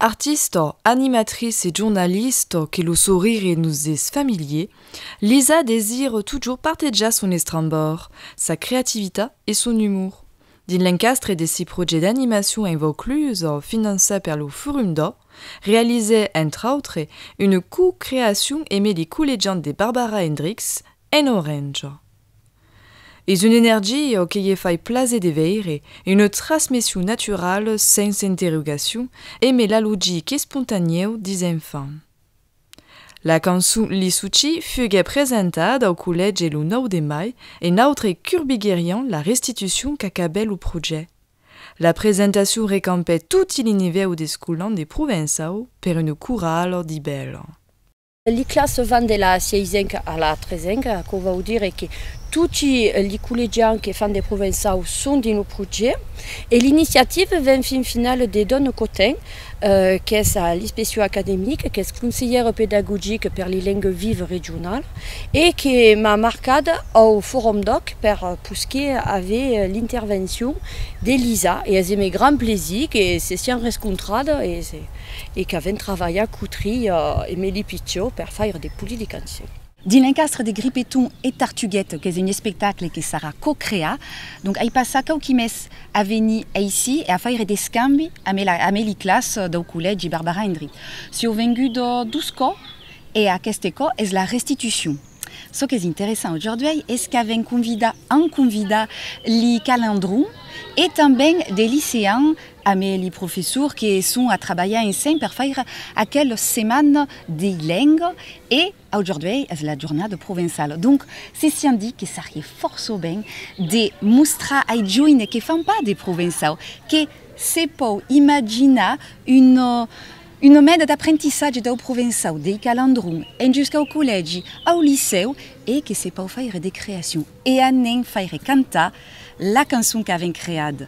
Artista, animatrice e jornalista que lo sorire nos es familier, Lisa desir totjorn partejar son estrambor, sa creativitat e son umor. Dins l'encastre de si projèct d'animacion en Vaucluse, finançat per lo Forum d'Or, realizèt, entre autres, una co-creacion emé li collegiant de Barbara Hendricks En orange. Es un energio que ie fai plaser de veire, une trasmession naturale sens interrogacion e me la logic espontanèu dis enfant. La cançon Lissuci fuguè presentada au collège lo 9 de mai e nautre curbigueriam la restitucion qu'acabè lo proget. La presentacion recampè toti l'inivèu d'escolan de Provençau per une corale d'ibèla. Li classes van de la sieisenca a la tresenca, aquò vòu dire que toti li collegians que fan de provençau son dins lo proget e l'iniciativa ven fin finala de Don Cotin, qu'es a l'inspeccion academica, qu'es conselhèra pedagogica per li lengas vivas regionalas e que m'a marcat au Forum d'Òc per posquer aver l'intervencion de Lisa e es emé grand plaisir que se sián rescontrada e se. e qu'a ven travalhar cotri Emeli Pitió per faire de poli de cançon. Dins l'encastre de Gripeton e Tartuguet qu'es un espectacle que sarà co-creat, donc ai passat quauqui mes a venir aicí e a faire d'escambi amé la amé li clas dau collègi Barbara Endry. Sieu vengut dos cò e aqueste cò es la restitucion. Çò qu'es interessant aujourduei es qu'a ven convidat an convidat li calandrons e tanben de liceans Amé li professor que son a trabalhar ensenh per faire aquel seman de lenga e aujorduei es la jornada provençala donc se sian dit que sarie forço ben de mostrar ai joine que fan pas de provençau que se pòu imaginar una una meda d'aprentissatge dau provençau dei calandrons en juscau collègi au licèu e que se pòu faire de creacion e a nenh faire cantar la cançon qu'aven creada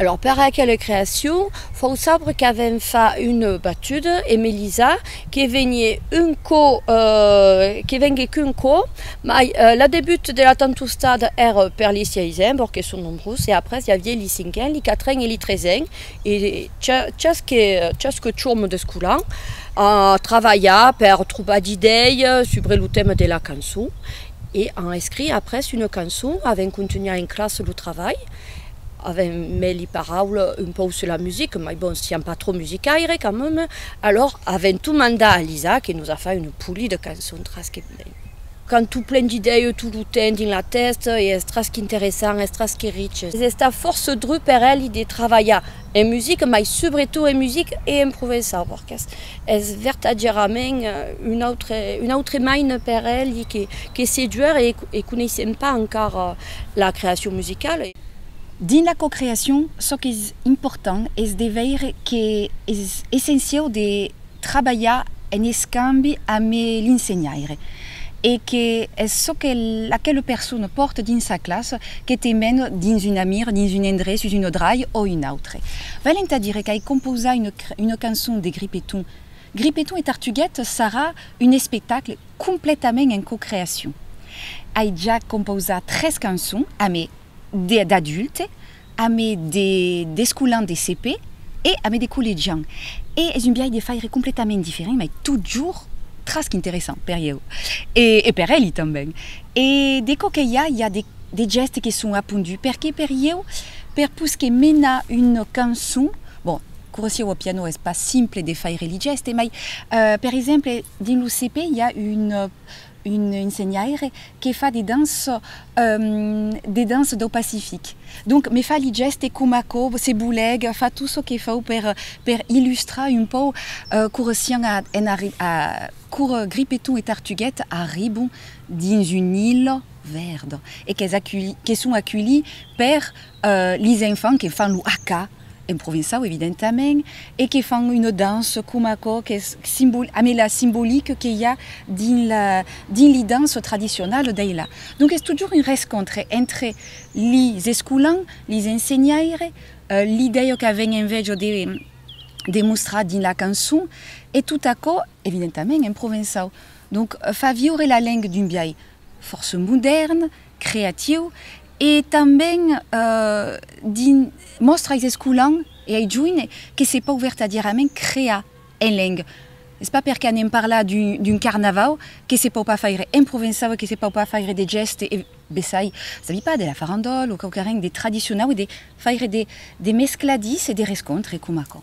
Alòrs per aquela creacion fau sabre qu'avèm fa una batuda e Melisa que venie un cò, que venguec un cò, mai la debut de la tantostada ère per li siaisen, vòrd que son nombrós, e après i avié li cinquen, li quatren e li tresen, e chasque chasque chòm d'escolan a travalhar per trobar d'idei subre lo tèma de la cançon e an escrit après una cançon, avèm contunhat en classa lo travalh, Avèm meli paraula un pauc sus la musica, mai bon, siam pas trop musicaire, quand même, alors avèm tot mandat a Lisa que nos a fai una poli de cançons tras que ben. Qu'an tot plen d'idèia tot lo temps dins la tèsta e es tras qu'interessant, es tras que riche. Es estat fòrça drur per èli de travalhar En musica, mai subretot en musica e en provençau, perque's es vertadièrament un autre, un autre maina per elli que, que seduer e e coneissèm pas encara la creacion musicala. Dins la cocreacion, çò qu'es important es de veire que es essenciau de trabalhar en escambi amb l'insenhaire e que es çò que aquela persona pòrta dins sa classa que te mena dins un amir, dins un endrech, sus una drai o un autre. Val entà dire qu'ai compausat una cançon de Gripeton. Gripeton e Tartuguet sarà un espectacle completament en cocreacion. Ai ja compausat tres cançons, amé d'adulte, amé d'escolan de CP e amé de collegian. E es un biais de faire completament diferent, mai totjorn trasc interessant per ieu e per eli tanben. E de çò que i a, i a de gèstes que son aponduts, perque per ieu, per pus que menar una cançon, bon, corresieu au piano es pas simple de faire li gèstes, mai per exemple dins lo CP i a un un ensenhaire que fa de dança de dança dau Pacific donc me fa li gèste coma aquò se bolèc fa tot çò que fau per per illustrar un pau cora sián a en arri a cora Gripeton e Tartuguet arribon dins un illa vèrda e qu'es aculhi que son aculhi per li enfants que fan lo haka en provençau evidentament, e que fan una dança coma aquò qu'es simbol, amé la simbolique que i a dins la, dins li dança tradicionala dei la. Donc es totjorn un rescontre entre lis escolans, lis ensenhaire, l'idèia qu'aven enveja de, de mostrar dins la cançon, e tot aquò, evidentament en provençau, donc fa viure la lenga d'un biais fòrça modèrn, creatiu e tanben dins mòstra ais escolan e ai joine que se pòu vertadièrament crear en lenga. Es pas perque anem parlar d'un carnavau que se pòu pas faire en provençau e que se pòu pas faire de gèste e bessai, sabi pas, de la farandòla o quauquarren de tradicionau e de faire de mescladís e de rescontre coma aquò.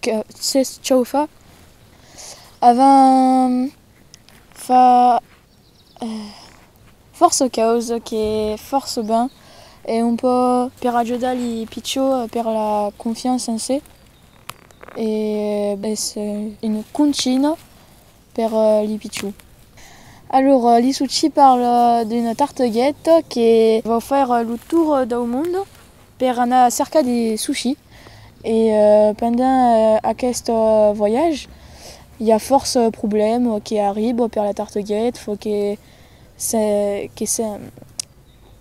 que s'es chaufa avant fa fòrça caus que fòrça ben e un pò per ajudar li pichons per la confiança en se e es una conchina per li pichon. Alor li suci parla d'un tarteguet que vau faire lo tour dau mond per anar cercar li suci e pendent aquest voyage i a fòrça problèmes que arribent per la tarteguet, fò que se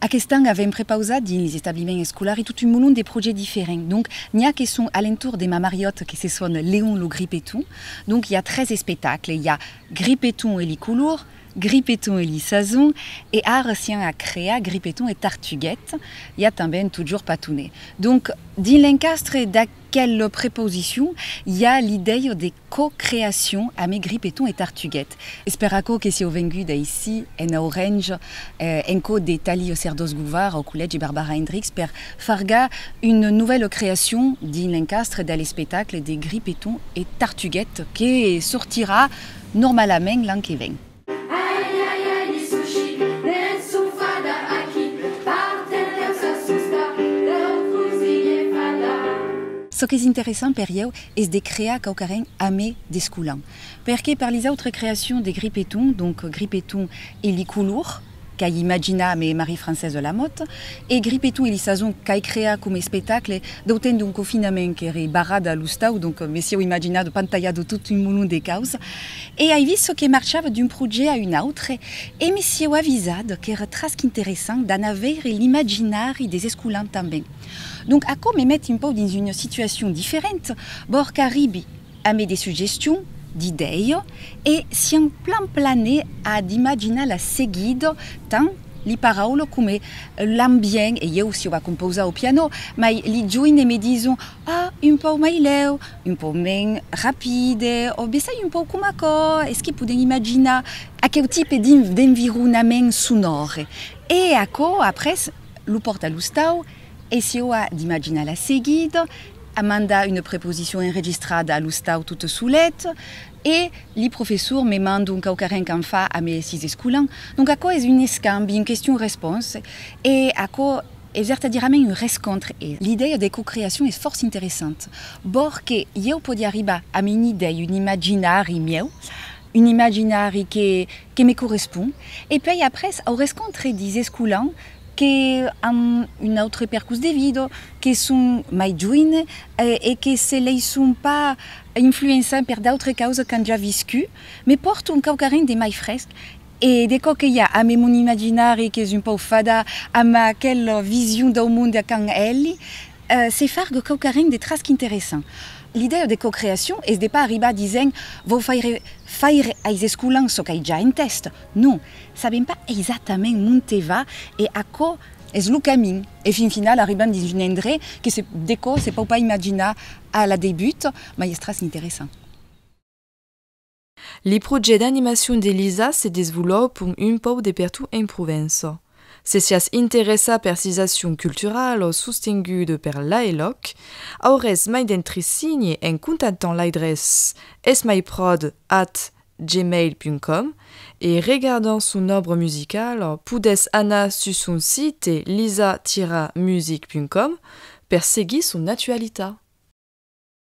Aqueste an avèm prepausat dins les establiments escolari tot un molon de projets diferents. Donc, n'i a que son alentor de ma mariòt que se son Leon lo Gripeton. Donc, i a tres espectacles, i a Gripeton e li colors, Gripeton e li sasons e ara sián a crear Gripeton e Tartuguet. I a tanben Totjorn Patonet. Donc, dins l'encastre d'aqu. Quelle preposition! I a l'idèia de co-creacion ame Gripeton e Tartuguet. Es per aquò que sieu venguda aicí, en Aurenha, en cò de Tali Oserdós Gouvard, au Collègi Barbara Hendricks, per fargar una novèla creacion dins l'encastre de l'espectacle de Gripeton e Tartuguet que sortirà normalament l'an que ven. Ai ai ai li sushi ne'n son fada aquí par terreu s'assusta deu cosir e parlar. Çò qu'es interessant per ieu es de crear quauquarren a me descolant perque per les autres creacions de Gripeton, donc Gripeton e li colors, qu'ai imaginat me Marie-Française de Lamothe, e Gripetou e li sasons qu'ai creat coma espectacle, d'autant d'un confinament qu'ère barrada a l'ostau, donc me sieu imaginat de pantalhar de tot un molon de causa, e ai vist çò que marchava d'un projet a un autre, e me sieu avisat qu'ère trasc interessant d'anar veire l'imaginari des escolans tanben. Donc, aquò me met un pauc dins una situacion diferenta, bòr qu'arribi, Ame de suggestion, d'idèio, e siam plan plane a d'imaginar la seguida, tant li paraulo come l'ambient, e ieu s'iu a compausar au piano, mai li join e me dison, ah, un pau mai lèu, un pau men rapide, o bessai un pau com aquò, es que podem imaginar. Aqueu tipe d'environament sonòre. E aquò après lo pòrt a l'ostau. E si ò a d'imaginar la seguida, amanda una preposicion enregistrada a l'ostau tot solet, e li professor me mand un quauquarren qu'an fa a me sis escolan. Donc aquò es un escambi, un question-response, e aquò es vertadirament un rescontre. E l'idèia de cocreacion es fòrça interessant, bòr que ieu pòdi arribar amb un idèi, un imaginari mieu, un imaginari que que me correspon, e puèi après au rescontre dis escolans que an un autre percurs de vida, que son mai joine e que se laisson pas influençar per d'autres causas qu'an ja viscut, me pòrton quauquarren de mai fresc e de çò que i a amé mon imaginari qu'es un pauc fada amb aquela vision dau monde qu'an elhi, Se fargue quauquarren de trasc interessant. L'idèa de cocreacion es de pas arribar disent vau faire faire ais escolans çò qu'ai ja entèst. Non, sabem pas eisatament monte va e aquò es lo camin. E fin final arribam dins un endrech que se decò se pau pas imaginar a la debut, mai es trasc interessant. Li projets d'animacion de Lisa se desvolopon un pauc de pertot en Provença. Se siás interessat per sisacion culturala o sostengut per l'AELOC, aurés mai d'entresigne en contantant l'aidrés esmaipròd at gmail punt com e regardant son òbra musicala, podés anar sus son site lisa-music punt com per seguir son actualitat.